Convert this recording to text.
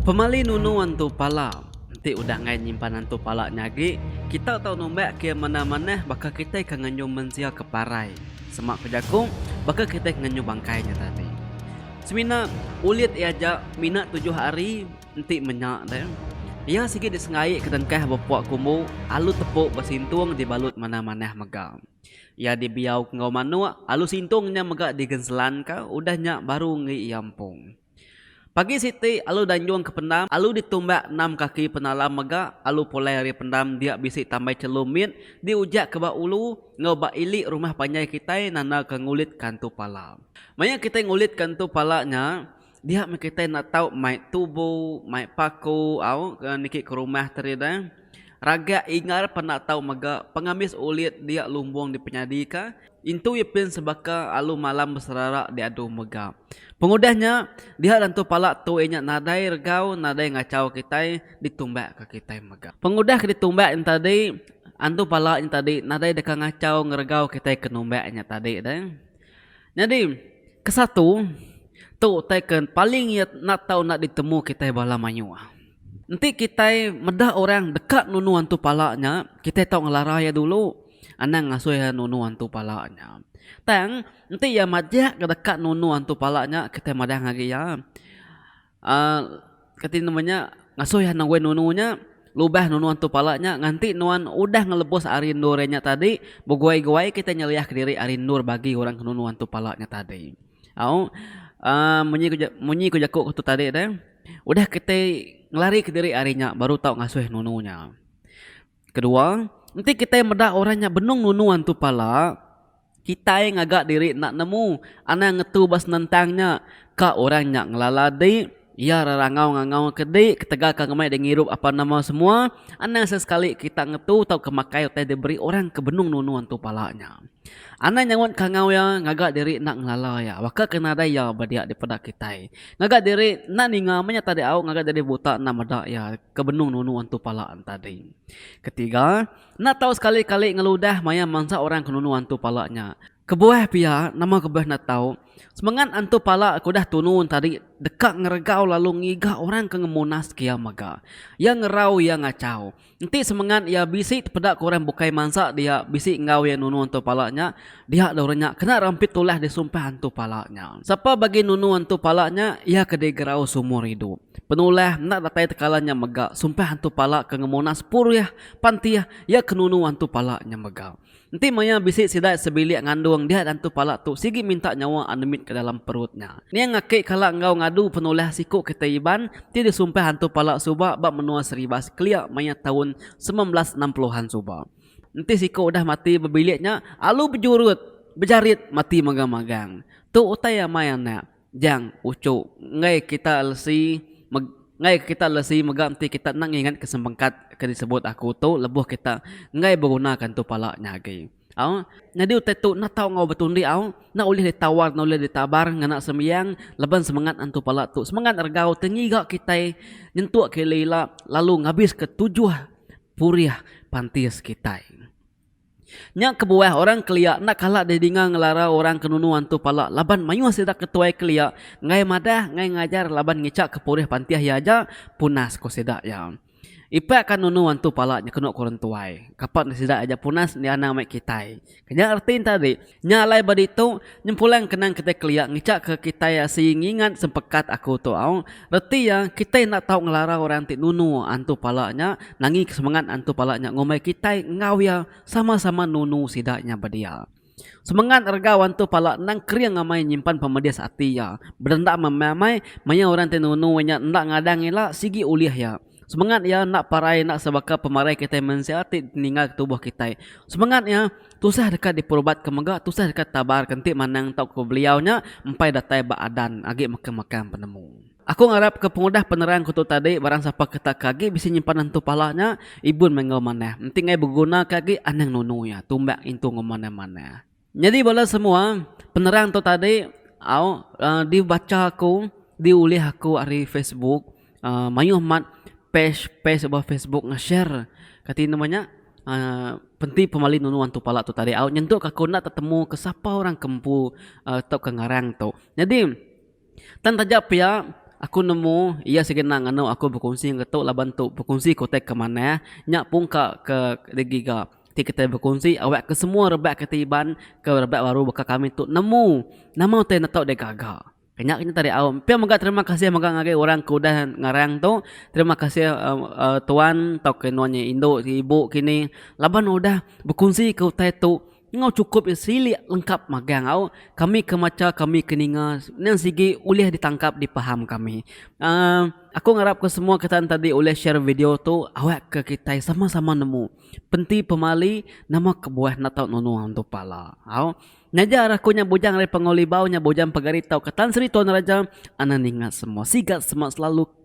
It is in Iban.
Pemali nunu antu pala. Enti udah enggai nyimpan antu pala nya agi, kita tau numbak ke manah-manah baka kitai ke ngenyum mensia ke parai. Semak ku jaku, baka kitai ke ngenyum bangkai nya tadi. Semina ulit iya aja mina tujuh hari enti menya ne. Iya sigi disengaika dengkah bepua kumbu alu tepu besintung dibalut manah-manah mega. Iya dibiau enggau manuk, alu sintung nya mega digenselanka, udah nya baru enggi iya empung. Pagi siti, alu danjung ke pendam, alu ditumbak enam kaki penalam mega alu pulai ari pendam dia bisi tambai chelu mit diujakka ba ulu enggau ba ili rumah panjai kitai nandaka ngulitka entu pala. Maya kitai ngulitka entu pala nya, Dia meh kitai enda tau mai tubu, mai paku au ke niki ke rumah tu ari deh. Ragak Ingar peh enda tau mega pengambis ulit dia lumbung dipenyadi ka, intu iya pin sebaka alu malam beserara diadu mega. Pengudah nya, dia nentu pala tu iya nya nadai regau, nadai ngachau kitai ditumbak ka kitai mega. Pengudah ke ditumbak nya tadi, antu pala nya tadi nadai deka ngachau ngeregau kitai ke numbak nya tadi deh. Nyadi, ke satu, tu utai ke paling iya enda tau enda ditemu kitai bala mayuh. Enti kitai meda orang deka nunu antu pala nya, kitai tau ngelara iya dulu, anang ngasuh iya nunu antu pala nya. Tang, enti iya majak ke deka nunu antu pala nya, kitai madang agi iya. Kati nama nya ngasuh iya nengoi nunu nya lubah nunu antu pala nya nganti nuan udah ngelebus ari endur iya nya tadi beguai-guai kitai nyeliah kediri ari endur bagi orang ke nunu antu pala nya tadi au munyi ku jaku ku tu tadi deh udah kitai ngelari kediri ari nya baru tau ngasuh nunu nya. Kedua, enti kitai meda orang nya benung nunu antu pala, kitai ngaga diri enda nemu anang ngetu ba senentang nya, ka orang nya ngelala di, iya rerangau ngangau ke di ketegal ka ngemai di ngirup apan nama semua, anang sesekali kita ngetu tauka makai utai diberi orang ke benung nunu antu pala nya. Anang nyaut kangau iya ngaga diri enda ngelala iya baka ke nadai iya ba dia dipeda kitai. Ngaga diri enda ninga meh nya tadi au ngaga diri buta enda meda iya ke benung nunu antu pala entadi. Ketiga, enda tau sekali-kali ngeludah maya mansa orang ke nunu antu pala nya. Kebuah pia, nama kebuah enda tau, semengat antu pala ke udah tunu entadi deka ngeregau lalu ngiga orang ke ngemunaska iya mega. Iya ngerau iya ngachau. Enti semengat iya bisi tepeda ke orang bukai mansa dia bisi enggau iya nunu antu pala nya, dia dau orang nya kena rampit tulah disumpah antu pala nya. Sapa bagi nunu antu pala nya, iya ke digerau seumur idup. Penulah enda datai tekala nya mega, sumpah antu pala ke ngemuna sepurih pan ti iya ke nunu antu pala nya mega. Enti maya bisi sidai sebilik ngandung dia dantu pala tu sigi minta nyawa Anemit ke dalam perut nya. Ning aki kala enggau ngadu penulah siku kitai Iban ti disumpah antu pala suba ba menua Seribas kelia maya taun semilan belas enam puluh an suba. Enti siku udah mati bebilik nya alu bejurut bejarit mati magang-magang. Tu utai amai anak. Jang, uchu, enggai kita lesi meg enggai kita lesi mega enti kita enda ngingat ke sempengkat ke disebut aku tu lebuh kita enggai beguna ke entu pala nya agi. Au, nyadi utai tu enda tau enggau betundi au, enda ulih ditawar enda ulih ditabar ngena sembiang laban semengat entu pala tu semengat regau ti ngiga kitai nyentuk ke ila-ila lalu ngabiska tujuh purih pantis kitai. Nya kebuah orang kelia enda kala didinga ngelara orang ke nunu antu pala laban mayuh sida ke tuai kelia enggai madah enggai ngajar laban ngicha ke purih pantih iya aja punas ku sida iya. Ipak ka nunu antu pala nyekenu ku orang tuai, kapak enda sida aja punas enda anang mai kitai. Nya reti enta ri. Nya alai ba ditu, nyempulang kenang kitai kelia ngichakka kitai sigi ngingat sempekat aku tu au, reti iya kitai enda tau ngelara orang ti nunu antu pala nya, nangika semengat antu pala nya ngumbai kitai enggau iya sama-sama nunu sida nya bedia. Semengat regau antu pala endang kering amai nyimpan pemedis ati iya, bedendam amai maya orang ti nunu iya nya enda ngadang ila sigi ulih iya. Semengat iya enda parai enda sebaka pemarai kitai mensia ti ditinggalka tubuh kitai. Semengat iya tusah deka diperubatka mega tusah deka ditabarka enti manang tauka beliau nya empai datai ba adan agi mekang-mekang penemu. Aku ngarapka pengudah penerangku tu tadi barang sapa ke tak ke agi bisi nyimpan nentu pala nya ibun meh enggau manah enti enggai begunaka agi anang nunu iya tumbak ngintu enggau manah-manah. Nyadi bala semua penerang tu tadi di bacha aku di ulih aku ari Facebook mayuh mat page page ba Facebook nge share kati nama nya penti pemali nunu antu pala tu tadi au nyentuk aku enda tetemu ke sapa orang ke empu tauka ngarang tu nyadi. Tang taja pia, aku nemu iya segena nganu aku bekunsi enggau tu laban tu bekunsi ke utai ke manah nya pun ka ke digiga ti kitai bekunsi awak ke semua rebak ke ti iban ke rebak baru baka kami tu nemu nama utai enda tau deh gaga. Nya ke tadi au pia mega terima kasih mega ngagai orang ke udah ngarang tu terima kasih tuan tauka nuan nya indu ibu kini laban udah bekunsi ke utai tu Enggau chukup iya silik lengkap magang au kami ke macha kami ke ninga endang sigi ulih ditangkap dipaham kami uhh aku ngarap ke semua kita tadi ulih share video tu awak ke kitai sama sama nemu penti pemali nama kebuah enda tau nunu entu pala au nyaja ra aku nya bujang ari pengawa libau nya bujang pegari tau ke tan sri tuan raja ana ninga semua siga semak selalu.